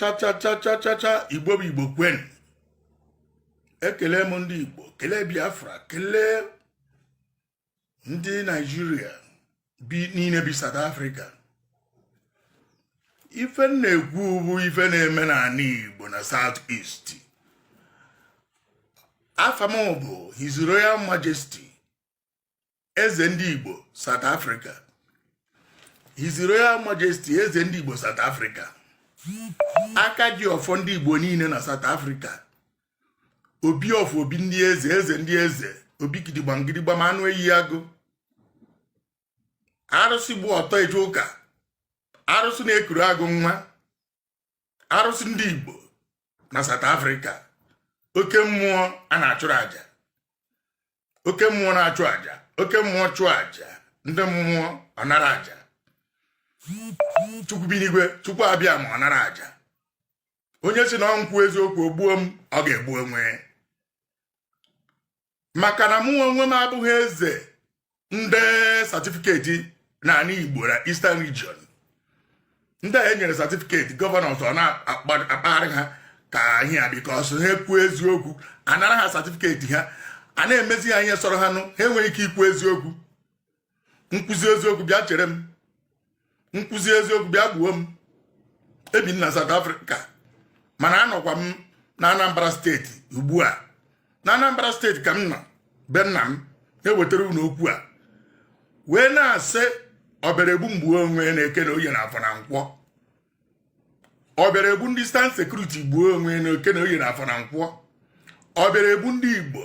chachachachachacha igbo bụ igbo kwenu ekele m ndị igbo kelee biafra kelee ndị naijiria bi niile bi south africa ife m na-ekwu bụ ife na-eme n'ala igbo na south east afa m bụ his royal majesty eze ndị Igbo South Africa His Royal Majesty eze ndị Igbo South Africa aka ji ọfọ ndị Igbo niile na South Africa obi ọfọ obi ndị eze eze ndị eze obi gidigbam gidigbam anụ eyi agụ arụsị gba ọtọ eje ụka arụsị na-ekuru agụ nwa arụsị ndị Igbo na South Africa oke mmụọ a na-achụrụ aja oke mmụọ na-achụ aja oke mmụọ chụọ aja ndị mmụọ ọ nara aja chukwu bi n'igwe chukwu abịama ọ nara aja onye sị na ọ m kwuo eziokwu o gbuo m ọ ga-egbu onwe maka na mụ onwe m abụghị eze ndị satifiketi n'ala Igbo na Eastern Region ndị a e nyere satifiketi gọvanọs na-akpagharị ha ka ihe a bikos ha kwuo eziokwu a nara ha satifiketi ha a na-emezi ha ihe sọrọ ha nụ ha enweghị ike ikwu eziokwu m kwuzie eziokwu bịa chere m m kwuzie eziokwu bịa gbuo m ebi m na South Africa mana anọkwa m na Anambra steeti ugbu a na Anambra steeti ka m nọ be nna m ewetara unu okwu a wee na-asị ọ bịara egbu m gbuo onwe na eke na oye na afọ na nkwọ ọ bịara egbu ndị Eastern sekuriti gbuo onwe na eke na oye na afọ na nkwọ ọ bịara egbu ndị igbo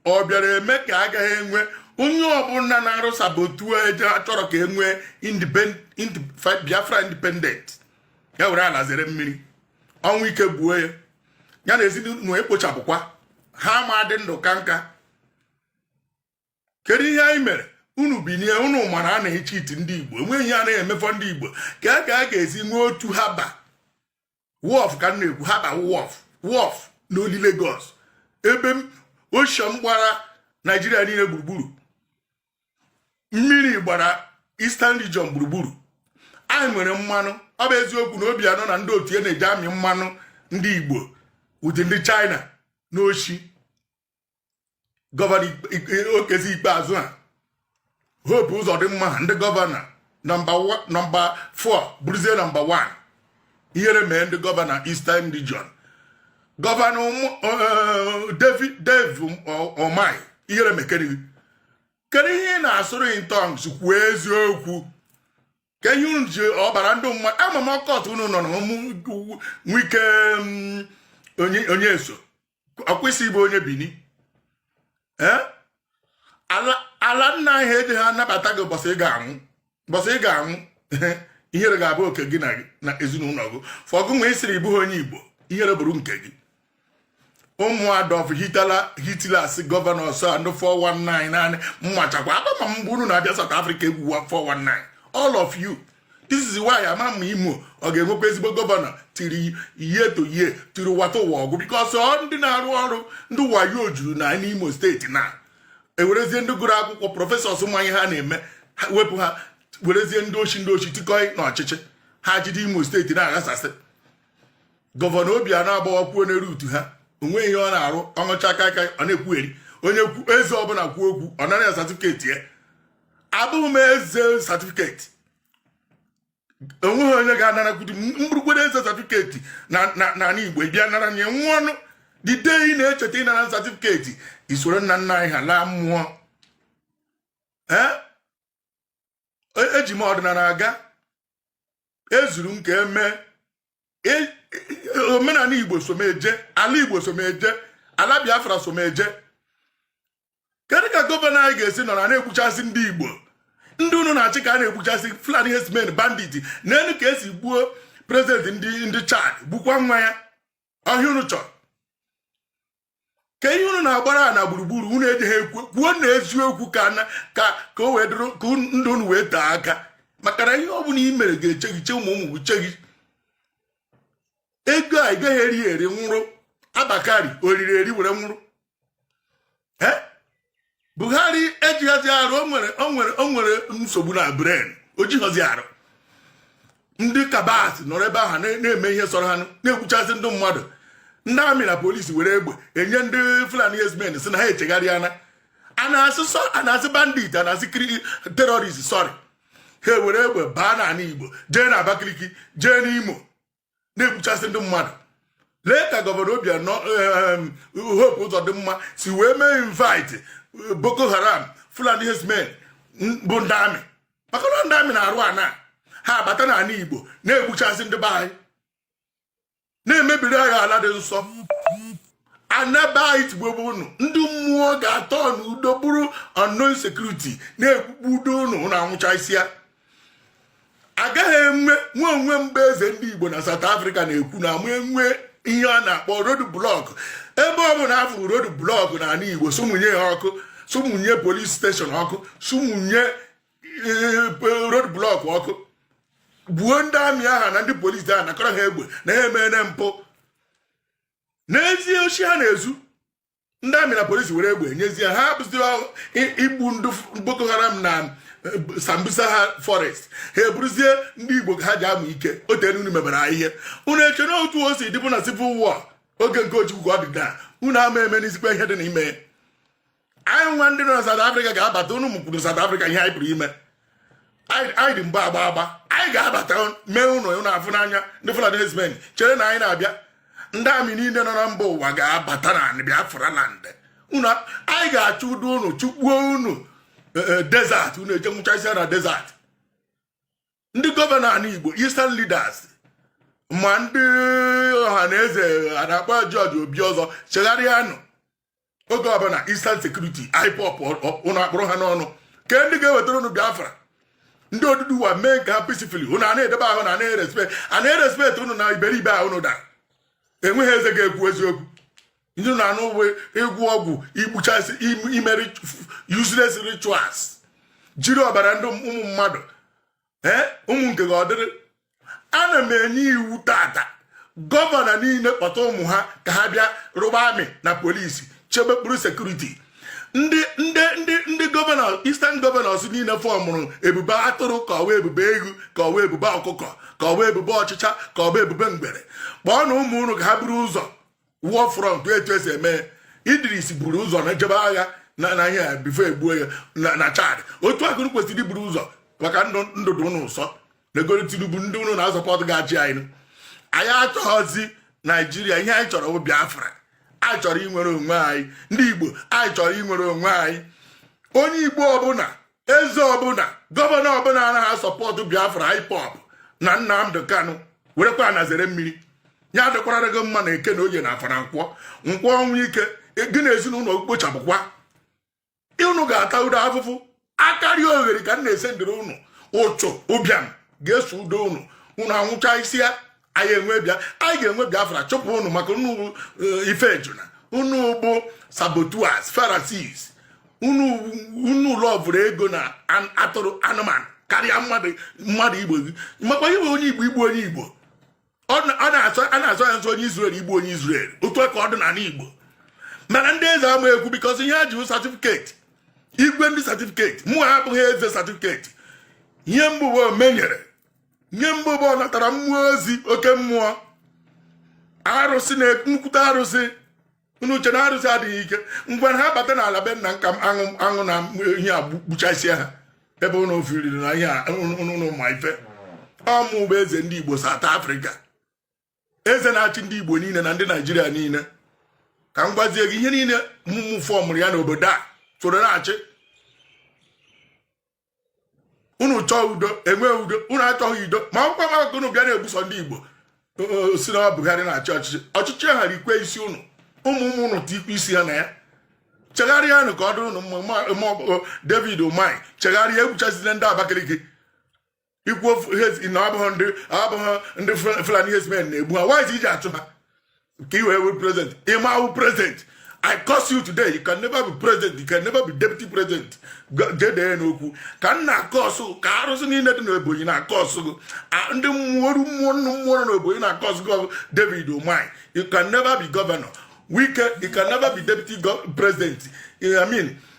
ọ bịara eme ka a gaghị enwe onye ọbụla na-arụ sabotage achọrọ ka e nwee biafra independent ya were ala zere mmiri ọnwụ ike gbuo ya ya na ezinụlọ ekpochapụkwa ha m adị ndụ kaa nka kedu ihe anyị mere unu binie unu mara a na-echiiti ndị igbo enweghị ihe a na-eme for ndị igbo ka a ka a ga-esi nwee otu harbour wharf ka m na-ekwu harbour wharf wharf na only Lagos ebe ocean gbara naijiria niile gburugburu mmiri gbara Eastern Region gburugburu anyị nwere mmanụ ọ bụ eziokwu na Obiano na ndị otu ya na-eje amị mmanụ ndị igbo with ndị China na oshi gọvanọ Okezie Ikpeazu a Hope Uzodinma ndị gọvanọ nọmba 4 bụrụzie nọmba 1 ihere mee ndị gọvanọ Eastern Region gọvanọ eh, David Dave Umahi ihere mekere kedu ihe ị na-asụrụ in tongues kwuo eziokwu kee ihe unu ji ọbara ndị mmadụ ama m occult unu nọ na Wike mm, onye eso ekwu sị ị bụ onye bini eh? ala nna anyị ejighị anabata gị ụbọchị ị ga-anwụ ụbọchị ị ga-anwụ ihere ga-abụ oke gị na ezinụlọ gị fọgụ nwa ị sịrị ị bụghị onye igbo ihere bụrụ nke gị ụmụ Adolf Hitler Hitlers gọvanọ ọsọ ndị 419 naanị mmachakwa akpama mgbe unu na-abịa South Africa egwu 419 all of you this is why ama m ma imo ọ ga-enwekwa ezigbo gọvanọ tiri ihe to ihe tiri wata ụwa ọgụ because ọ ndị na-arụ ọrụ ndị wayo juru na n'imo steeti na ewerezie ndị gụrụ akwụkwọ prọfesọs ma ihe ha na-eme wepụ ha werezie ndị oshi ndị oshi tikọọ na ọchịchị ha jide imo steeti na-aghasasị gọvanọ Obiano agbawakwuo n'elu utu ha onweghị ihe ọ na-arụ ọ ṅụchaa kaịkaị ọ na-ekwugheri onye eze ọbụla kwuo okwu ọ nara ya satifiketi ya abụghị m eze satifiketi onweghị onye ga-anarakwudi mgburugburu eze satifiketi n'ala Igbo bịa nara nye nwa ọnụ the day ị na-echeta ịnara satifiketi i soro nna nna anyị ha laa mmụọ eji m ọdịnala aga ezuru m ka eme e, e, omenala Igbo so m eje ala Igbo so m eje ala Biafra so m eje kedu ka gọvanọ anyị ga-esi nọrọ a na-egbuchasị ndị igbo ndị unu na-achị ka a na-egbuchasị fulani herdsmen bandit nenụ ka e si gbuo prezidenti ndị ndị chad gbukwa nwa ya ọ ihe a unu chọrọ kee ihe unu na-agbara a na gburugburu unu ejighị ekwu kwuonụ eziokwu ka ka ka o wee dụrụ ka ndụ unu wee tee aka maka na ihe ọ bụla i mere ga-eche gị che ụmụ ụmụ gị che gị ego a ị gaghị eri eri nwụrụ Abba Kyari o riri eri were nwụrụ buhari ejighọzi arụ onwere onwere onwere nsogbu na brain o jighọzi arụ ndị cabals nọrọ ebe ahụ na-eme ihe sọrọ ha na-egbuchasị ndị mmadụ ndị amị na polisi were egbe enye ndị fulani herdsmen sị na ha echegharịana a na-asị bandit a na-asị terrorist sorry ha ewere egbe baa n'ala igbo jee na abakaliki jee n'imo na-egbuchasị ndị mmadụ lee ka gọvanọ Obianọ Hope Uzodimma si wee mee invite eh, Boko Haram Fulani herdsmen bụ ndị amị maka na ndị amị na-arụ ana ha abata n'ala Igbo na-egbuchasị ndị be anyị na-emebiri anyị ala dị nsọ ana be anyị tigbube unu ndị mmụọ ga-atọ n'udo bụrụ unknown security na-egbugbudo unu unu anwụchasịa agaghị enwe nwe onwe mgbe eze ndị Igbo na South Africa na-ekwu na ama enwe ihe a na-akpọ road block ebe ọ bụla a fụrụ road block na ala Igbo sụmụnye ya ọkụ sụmụnye police station ọkụ sụmụnye eh, road block ọkụ gbuo ndị amị aha na ndị polisi ahụ nakọrọ ha egbe na ha emere mpụ na-ezu oshi ha na-ezu ndị amị na polisi were egbe e nyezie hapụzi igbu ndị boko haram na eh, sambisa ha forest ha eburuzie ndị igbo ka ha ji amụ ike o teenụ unu mebere ha ihe unu eche na otu o si dịbụ na civil war oge nke ojukwu ka ọ dị taa unu ama eme n'izikwa ihe dị n'ime anyị nwa ndị nọ na South Africa ga-abata unu mụkwuru South Africa ihe anyị pụrụ ime anyị dị mgbe agba agba anyị ga-abata mee unu unu afụ n'anya ndị Fulani herdsmen chere na anyị na-abịa ndị amị niile nọ na mba ụwa ga-abata na anị Biafra land unu anyị ga-achụdo unu chụkpuo unu e, e, desert unu eje nwụchasịa na desert ndị gọvanọ ala Igbo eastern leaders ma ndị Ohanaeze a na-akpọ George Obiozor chegharịanụ oge ọbụla Eastern Security IPOB ụnụ akpụrụ ha n'ọnụ ke ndị ga-ewetara ụnụ Biafra ndị Oduduwa mee nke ha peacefully ụnụ a na-edebe ahụ na anaghị respect a na-erespekt ụnụ na iberibe ahụ ụnụ dara enweghị eze ga-ekwu eziokwu ndị na anụ uwe ịgwọ ọgwụ igbuchasị ime useless rituals jiri ọbara ndị ụmụ mmadụ ee ụmụ nke gị ọ dịrị ana m enye iwu tata gọvanọ niile kpọta ụmụ ha ka ha bịa rụba amị na polisi chebe kpụrụ security ndị ndị ndị ndị gọvanọ eastern gọvanọs niile fọmụrụ ebube atụrụ ka ọ wụ ebube ewu ka ọ wụ ebube ọkụkọ ka ọ wụ ebube ọchịcha ka ọ wụ ebube ngwere kpọọnụ ụmụ unu ka ha buru ụzọ war front etu e si eme idris buru ụzọ na jebe agha na na ihe before e gbuo ya na chad otu a ka ụnụ kwesịrị iburu ụzọ maka ndụ ndụ dị ụnụ ụsọ negoro tinubu ndị ụnụ na-asọpọtụ ga-achị anyị anyị achọghọzi naijiria ihe anyị chọrọ bụ biafra anyị chọrọ inwere onwe anyị ndị igbo anyị chọrọ inwere onwe anyị onye igbo ọbụla eze ọbụla gọvanọ ọbụla anaghị asọpọtụ biafra ipob na nnamdi kanu werekwa ana zere mmiri ya adịkwara gị mma na eke na oye na afọ na nkwọ nkwọ ọnwụ ike gị na ezinụlọ kpochapụkwa unu ga-atado afụfụ akarịogheri ka m na-asị dịrị unu ụchụ ụbịam ga-esodo unu unu anwụchasịa anyị enwe bịa anyị ga-enwe biafra chụpụ unu maka unu eh, ife ejuna unu bụ saboteurs Pharisees unu unu lọvụrụ ego na atụrụ anụmanụ karịa mmadụ mmadụ igbo gị makwa ihe onye igbo igbu onye igbo a na-asọ ya nsọ onye Izrel igbu onye Izrel otu ka ọ dị n'ala Igbo mana ndị eze ama ekwu because ihe ha ji certificate igwe ndị certificate mụwa abụghị eze certificate ihe m bụ bụ omenyere nye m bụ bụ ọ natara mmụọ ozi oke mmụọ arụsị na nnukwute arụsị unu che na arụsị adịghị ike mgbe ha bata n'ala be nna nka aṅụ aṅụ na ihe a gbuchasịa ha ebe unu firiri na unu ma ife ọ mụ bụ eze ndị Igbo South Africa eze na-achị ndị igbo niile na ndị naijiria niile ka m gwazie gị ihe niile mụ fọmụrụ ya n'obodo a soro na-achị unu chọọ udo enwee udo unu achọghị udo ma akwụkwọ maka unu bịa na-egbusị ndị igbo sị na Buhari na-achị ọchịchị ọchịchị ha rikwe isi unu ụmụ ụmụ unu tikwa isi ha na ya chegharịanụ ka ọ dụrụ unu David Umahi chegharịa egbuchazina ndị Abakaliki i kwu na ọ bụghị ndị Fulani herdsmen na-egbu ha why i ji achụ ha ka i wee were president ị ma awụ president I curse you today you can never be president you can never be deputy president jedee n'okwu ka m na-akọsụ ka arụsị niile dị n'Ebonyi na-akọsụ gị ndị mmụọ mmụọ nnu mmụọ nọ n'Ebonyi na-akọsụ gị David Umahi you can never be governor Wike you can never be deputy president I mean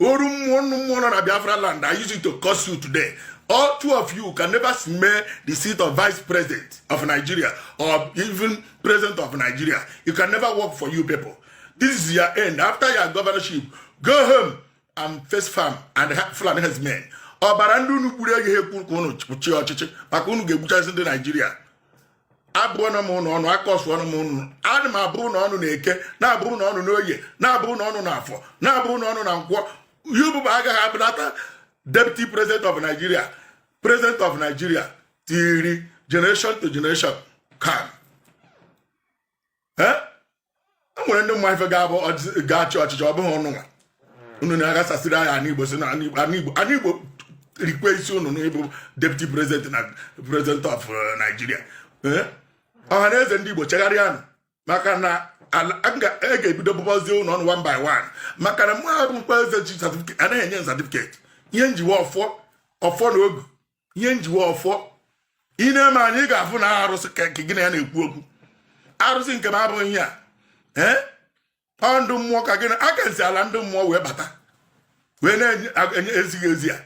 oru mmụọ nnu mmụọ nọ na biafra land i use it to curse you today all two of you can never smell the seat of vice president of nigeria or even president of nigeria it can never work for you people this is your end after your governorship go home and face farm and Fulani herdsmen ọbara ndị unu gburu agaghị ekwe ka unu chịa ọchịchị maka unu ga-egbuchasị ndị naijiria abụọna m unu ọnụ akọsụọna m unu ana m abụrụ unu ọnụ na eke na-abụrụ unu ọnụ n'oye na-abụrụ unu ọnụ na afọ na-abụrụ unu ọnụ na nkwọ yububa agaghị abụnata deputy president of nigeria president of nigeria till generation to generation kan e nwere ndị ma ife ga-abụ ga-achị ọchịchị ọ bụghị unu nwa unu na-aghasasịrị anyị ana igbo sị na ana igbo rikwe isi unu n'ịbụ deputy president na president of uh, Nigeria eh? ọha na eze ndị igbo chegharịanụ maka na a ga-ebido bụbazie unu ọnụ one by one maka na mụ abụkwa eze ji anaghị enye certificate ihe m ji wụ ọfọ ọfọ na ogu ihe njiwe ọfọ ị na-eme anyị ga-afụ na arụsị ka gị na ya na-ekwu okwu arụsị nke m abụghị ihe a ee ọ ndị mmụọ ka gị na aka nsi ala ndị mmụọ wee bata wee na-enye ezighị ezi a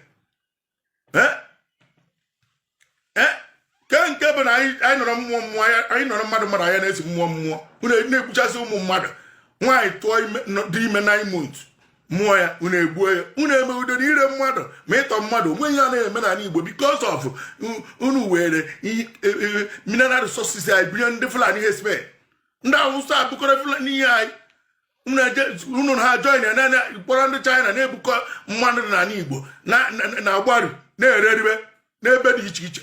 ke nke bụ na anyị nọrọ mmụọ mmụọ anyị nọrọ mmadụ mmadụ anya na-esi mmụọ mmụọ na-egbuchasị ụmụ mmadụ nwaanyị tụọ dị ime nine months mụọ ya unu egbuo ya unu eme udo na ire mmadụ ma ịtọ mmadụ o nwe ihe na-eme n'ala Igbo because of unu were e, e, mineral resources anyị bunye ndị Fulani herdsmen ndị Awụsa ebukọrọ Fulani ihe anyị unu ha join ya na kpọrọ ndị China na-ebukọ mmanụ n'ala Igbo na-agbaru na-ere eribe n'ebe dị iche iche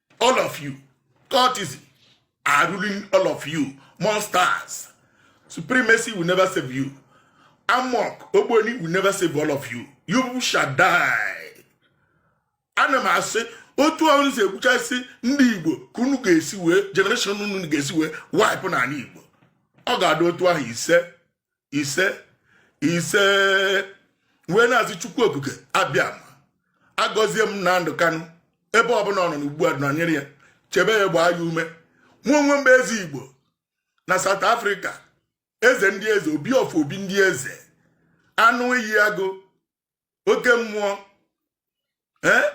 all of you cultism are ruling all of you monsters supremacy will never save you amorc ogboni will never save all of you you shall die ana m asị otu unu si egbuchasị ndị igbo ka unu ga-esi wee generation unu ga-esi wee wipe n'ala igbo ọ ga-adị otu ahụ ise ise ise wee na-asị chukwu okike abịama gọzie Nnamdi Kanu ebe ọbụla ọ nọ n'ugbu a nọnyere ya chebe ya gbaa ya ume mụ onwe m bụ eze igbo na South Africa eze ndị eze obi of obi ndị eze anụ iyi agụ oke mmụọ ee eh?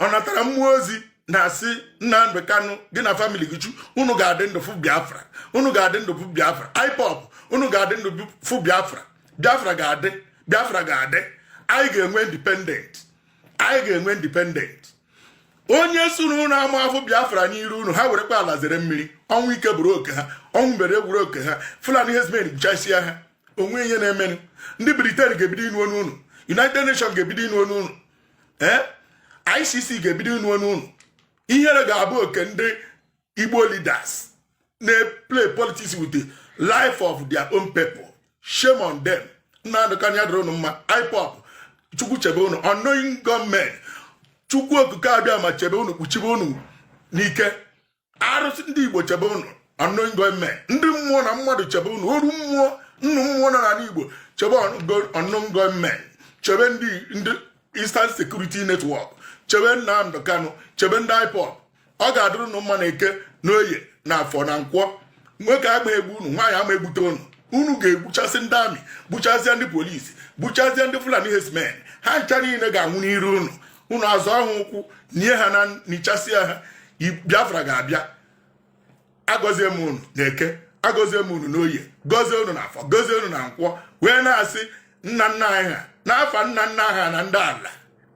ọ natara mmụọ ozi na-asị Nnamdi Kanu gị na famili gị chu unu ga-adị ndụ fụ Biafra unu ga-adị ndụ fụ Biafra IPOB unu ga-adị ndụ fụ Biafra Biafra ga-adị Biafra ga-adị anyị ga-enwe independent anyị ga-enwe independent onye sị na unu ama afụ Biafra n'iru unu ha werekwa ala zere mmiri ọnwụ ike bụrụ oke ha ọnwụ mberede bụrụ oke ha Fulani herdsmen gbuchasịa ha o nwe ihe na-emenụ ndị Britain ga-ebido ịnụ onu unu United Nations ga-ebido ịnụ onu unu ee ICC ga-ebido ịnụ onu unu ihere ga-abụ oke ndị Igbo leaders na-play politics with the life of their own people shame on them Nnamdi Kanu ya dịrị unu mma IPOB chukwu chebe unu unknown gunmen chukwu okike abịama chebe unu kpuchibe unu n'ike arụsị ndị igbo chebe unu unknown gunmen ndị mmụọ na mmadụ chebe unu oru mmụọ nnụ mmụọ nọ n'ala igbo chebe unknown gunmen chebe ndị ndị Eastern Security Network chebe Nnamdi Kanu chebe ndị IPOB ọ ga-adịrị unu mma na eke na oye na afọ na nkwọ nwoke ama egbu unu nwaanyị ama egbute unu unu ga-egbuchasị ndị amị gbuchasịa ndị polisi gbuchazịa ndị fulani herdsmen ha ncha niile ga-anwụ n'iru unu unu azọọ ha ụkwụ nie ha na nichasịa ha biafra ga-abịa agọzie m unu na eke agọzie m unu n'oye gọzie unu na afọ gọzie unu na nkwọ wee na-asị nna nna anyị ha n'afa nna nna ha na ndị ala